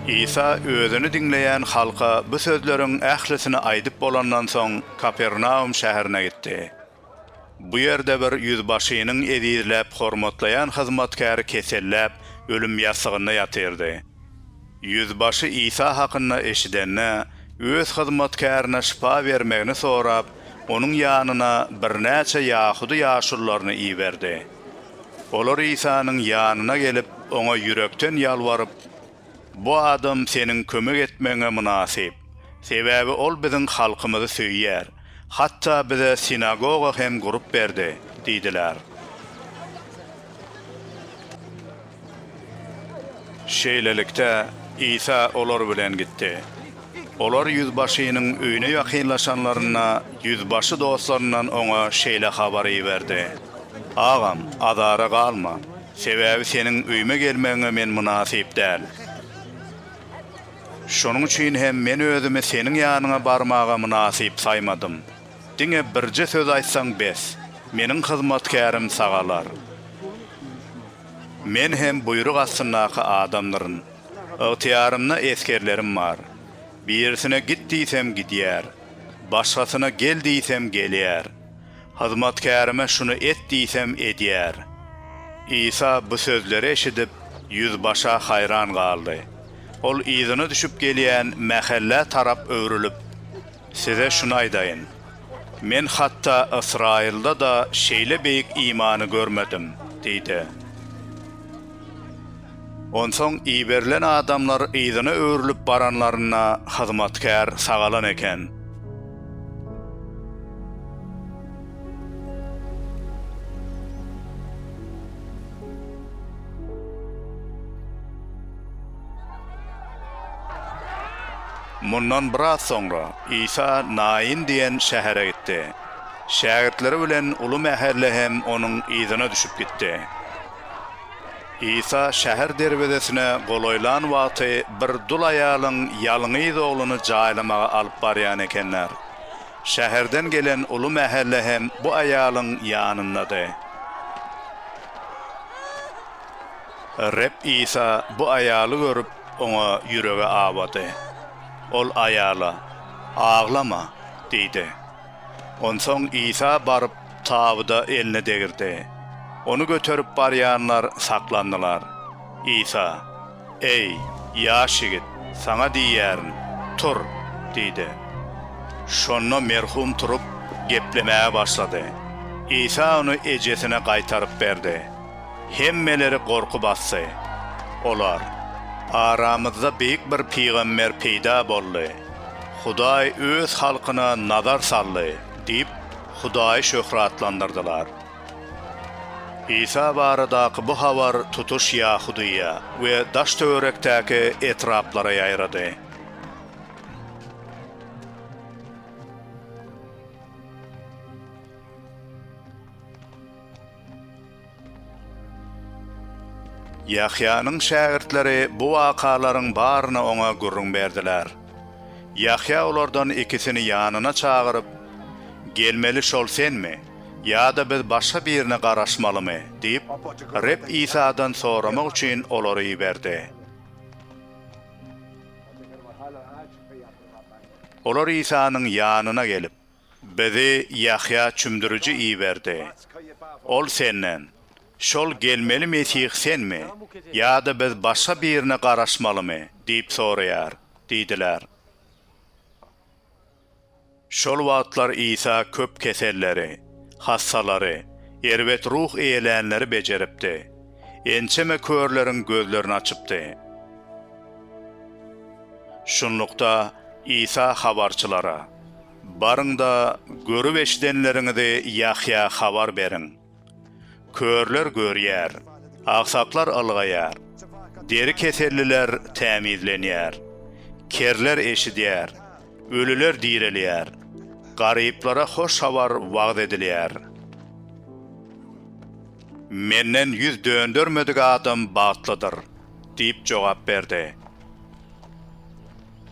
Isa özüni diňleýän halka bu sözleriň ählisini aýdyp bolandan soň, Kapernaum şäherine gitdi. Bu ýerde bir ýüzbaşynyň ezizläp hormatlaýan hyzmatkäri keselläp, ölüm ýassygynda ýatyrdy. Ýüzbaşy Isa hakynda eşidende, öz hyzmatkärine şypa bermegini sorap, onuň ýanyna birnäçe ýahudy ýaşulularyny iberdi. Olar Isanyň ýanyna gelip, oňa ýürekden ýalbaryp, Bu adam seniň kömek etmegiňe mynasyp. Sebäbi ol biziň halkymyzy söýýär. Hatda bize sinagoga hem gurup berdi diýdiler. Şeýlelikde, Isa olar bilen gitdi. Olar ýüzbaşynyň öýüne ýakynlaşanlarynda, ýüzbaşy dostlaryndan oňa şeýle habary iberdi, Agam, azara galma, sebäbi seniň öýüme gelmegiňe men mynasyp däl. Şonuň üçin hem men özümi seniň ýanyňa barmaga mynasyp saýmadym. Diňe birje söz aýtsaň bes, meniň hyzmatkärim sagalar. Men hem buýruk astyndaky adamdyryn. Ygtyýarymda esgerlerim bar. Birisine git diýsem gidýär. Başgasyna gel diýsem gelýär. Hyzmatkärime şuny et diýsem edýär. Isa bu sözleri eşidip, ýüzbaşa haýran galdy. Ol yzyna düşüp gelýän mähellä tarap öwrülip, Size şuny aýdaýyn. Men hatda Ysraýylda-da şeýle beýik imany görmedim diýdi. Onsoň iberilen adamlar yzyna öwrülip baranlarynda hyzmatkär sagalan eken. Mundan biraz soňra Isa Naýyn diýen şähere gitdi. Şägirtleri bilen uly mähelle hem onuň yzyna düşüp gitdi. Isa şäher derwezesine golaýlan wagty bir dul aýalyň ýalňyz ogluny jaýlamaga alyp barýan ekenler. Şäherden gelen uly mähelle hem bu aýalyň ýanyndady. Reb Isa bu aýaly görüp, oňa ýüregi awady. Ol aýala, Aglama! diýdi. Onsoň Isa baryp, tabyda elini degirdi. Ony göterip barýanlar saklandylar. Isa, Eý, ýaş ýigit, saňa diýýärin, tur! diýdi. Şonda merhum turup, geplemäge başlady. Isa ony ejesine gaýtaryp berdi. Hemmeleri gorky basdy. Olar, Aramyzda beýik bir pygamber peýda boldy. Hudaý Öz halkyna nazar saldy diýip, Hudaýy şöhratlandyrdylar. Isa baradaky bu habar tutuş Ýahudyýa we daş-töwerekdäki etraplara ýaýrady. Ýahýanyň şägirtleri bu wakalaryň baryny oňa gürrüň berdiler. Ýahýa olardan ikisini ýanyna çagyryp, Gelmeli şol senmi, ýa-da biz başga birine garaşmalymy? diýip, Reb Isadan soramak üçin olary iberdi. Olar Isanyň ýanyna gelip. Bizi Ýahýa çümdüriji iberdi. Ol senden, Şol gelmeli Mesih senmi, ýa-da biz başga birine garaşmalymy? diýip soraýar diýdiler. Şol wagtlar Isa köp keselleri, hassalary, erbet ruh eýelänleri bejeripdi. ençeme körleriň gözlerini açypdy. Şunlukda, Isa habarçylara, Baryň-da, görüp-eşidenleriňizi Ýahýa habar beriň. Körler görýär, agsaklar ylgaýar, deri keselliler tämizlenýär, kerler eşidýär, ölüler direlýär, garyplara hoş habar wagyz edilýär. Menden ýüz döndermedik adam bagtlydyr diýip jogap berdi.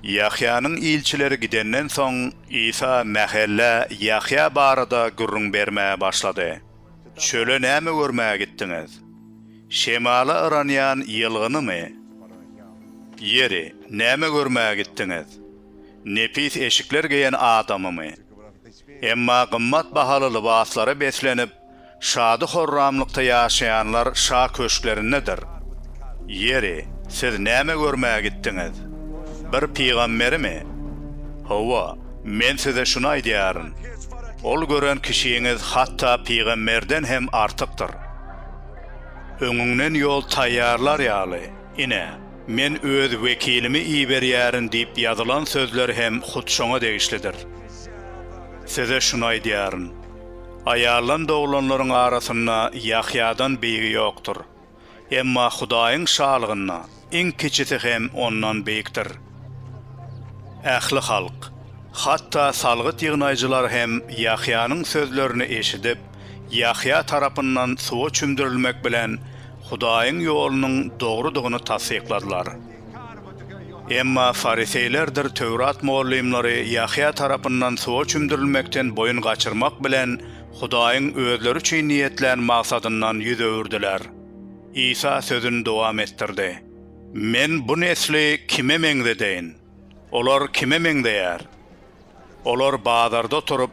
Ýahýanyň ilçileri gidenden soň, Isa mähellä Ýahýa barada gürrüň bermäge başlady. Çöle näme görmäge gitdiňiz? Şemala yranýan ýylgynymy? Ýeri, näme görmäge gitdiňiz? Nepis eşikler geýen adamymy? Emma gymmat bahaly lybaslara beslenip, şady-horramlykda ýaşaýanlar şa köşklerindedir. Ýeri, siz näme görmäge gitdiňiz? Bir pygamberimi? Hawa, men size şuny aýdýaryn, ol gören kişiňiz hatda pygamberden hem artykdyr. Öňüňden ýol taýýarlar ýaly. Ine, Men Öz wekilimi iberýärin diýip ýazylan sözler hem hut şoňa degişlidir. Size şuny aýdýaryn, Aýaldan doglanlaryň arasynda Ýahýadan beýigi ýokdur. Emma Hudaýyň Şalygynda iň kiçisi hem ondan beýikdir. Ähli halk, hatda salgyt ýygnaýjylar hem Ýahýanyň sözlerini eşidip, Ýahýa tarapyndan suwa çümdürilmek bilen Hudaýyň ýolunyň dogrudygyny tassykladylar. Emma fariseýlerdir Töwrat mugallymlary Ýahýa tarapyndan suwa çümdürilmekden boýun gaçyrmak bilen Hudaýyň özleri üçin niýetlän maksadyndan ýüz öwürdiler. Isa sözüni dowam etdirdi. Men bu nesli kime meňzedeýin? Olar kime meňzeýär? Olar bazarda oturyp,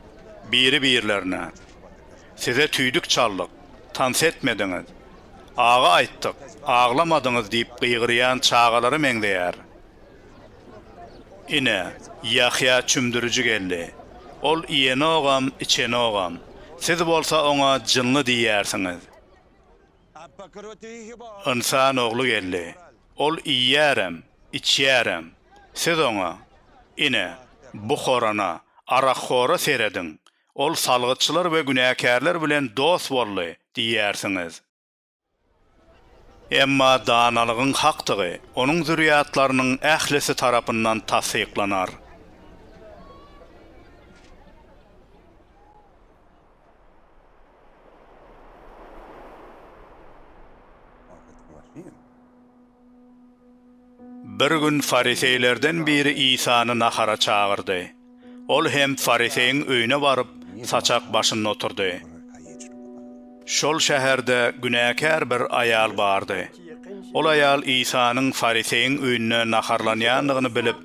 biri-birlerine, Size tüýdük çaldyk, tans etmediňiz, agy aýtdyk, aglamadyňyz diýip gygyrýan çagalara meňzeýär. Ine, Ýahýa çümdüriji geldi. Ol iýenogam, içenogam. Siz bolsa oňa jynly diýýärsiňiz. Ynsan ogly geldi. Ol iýýärem, içýärem. Siz oňa, Ine, bu horana, arakhora serediň! Ol salgytçylar we günäkärler bilen dost boldy! diýýärsiňiz. Emma danalygyň hakdygy onuň zürýatlarynyň ählisi tarapyndan tassyklanar. Bir gün fariseýlerden biri Isany nahara çagyrdy. Ol hem fariseýiň öýüne baryp, saçak başynda oturdy. Şol şäherde günäkär bir aýal bardy. Ol aýal Isanyň fariseýiň öýünde naharlanýandygyny bilip,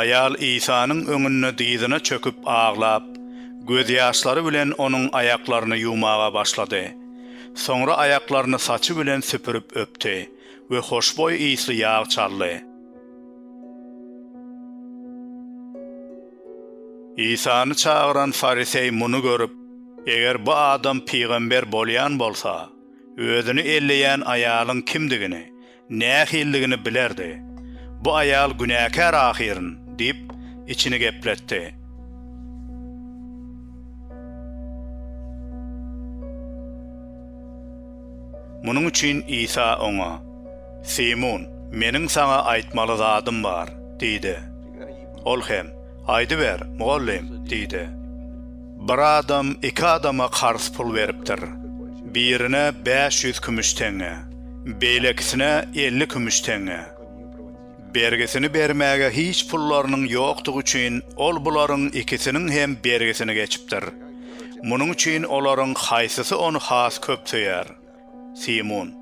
Aýal Isanyň öňünde dyzyna çöküp aglap, gözýaşlary bilen Onuň aýaklaryny ýuwmaga başlady. Soňra aýaklaryny saçy bilen süpürip öpdi we hoşboý ysly ýag çaldy. Isany çagyran fariseý muny görüp, Eger bu adam pygamber bolýan bolsa, özüni elleýän aýalyň kimdigini nähilidigini bilerdi. Bu aýal günäkär ahyryn, diýip, içini gepletdi. Munuň üçin Isa oňa, Simun, meniň saňa aýtmaly zadym bar, diýdi. Ol hem, Aýdyber, mugallym, diýdi. Bir adam iki adama karz pul beripdir. Birine bäş ýüz kümüş teňňe, beýlekisine elli kümüş teňňe. Bergisini bermäge hiç pullarynyň ýokdugy üçin ol bularyň ikisiniň hem bergisini geçipdir. Munuň üçin olaryň haýsysy ony has köp söýer? Simun,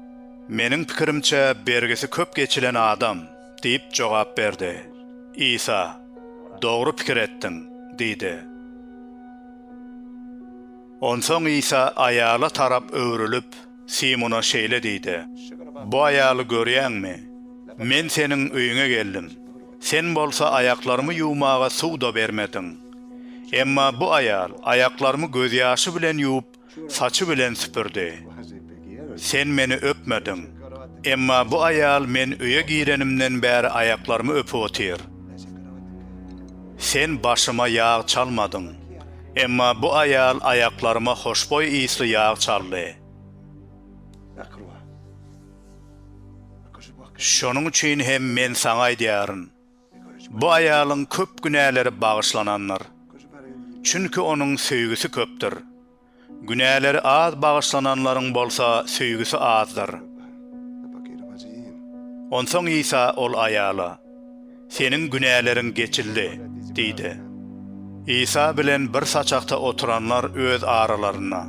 Meniň pikirimçe, bergisi köp geçilen adam, diýip jogap berdi. Isa, Dogry pikir etdiň, diýdi. Onsoň Isa aýala tarap öwrülip, Simuna şeýle diýdi, Bu aýaly görýäňmi? Men seniň öýüňe geldim. Sen bolsa aýaklarymy ýuwmaga suw-da bermediň. Emma bu aýal aýaklarymy gözýaşy bilen ýuwup, saçy bilen süpürdi. Sen meni öpmediň. Emma bu aýal men öýe girenimden bäri aýaklarymy öpüp otyr. Sen başyma ýag çalmadyň. Emma bu aýal aýaklaryma hoşboý ysly ýag çaldy. Şonuň üçin hem men saňa aýdýaryn. Bu aýalyň köp günäleri bagyşlanandyr. Çünki onuň söýgüsi köpdür. Günäleri az bagyşlananlaryň bolsa söýgüsi azdyr. Onsoň Isa ol aýala, Seniň günäleriň geçildi diýdi. Isa bilen bir saçakda oturanlar öz aralarynda,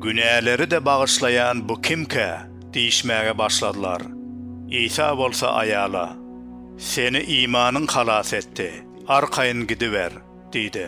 Günäleri-de bagyşlaýan bu kimkä? diýişmäge başladylar. Isa bolsa aýala. Seni imanyň halas etdi. Arkaýyn gidiber! diýdi.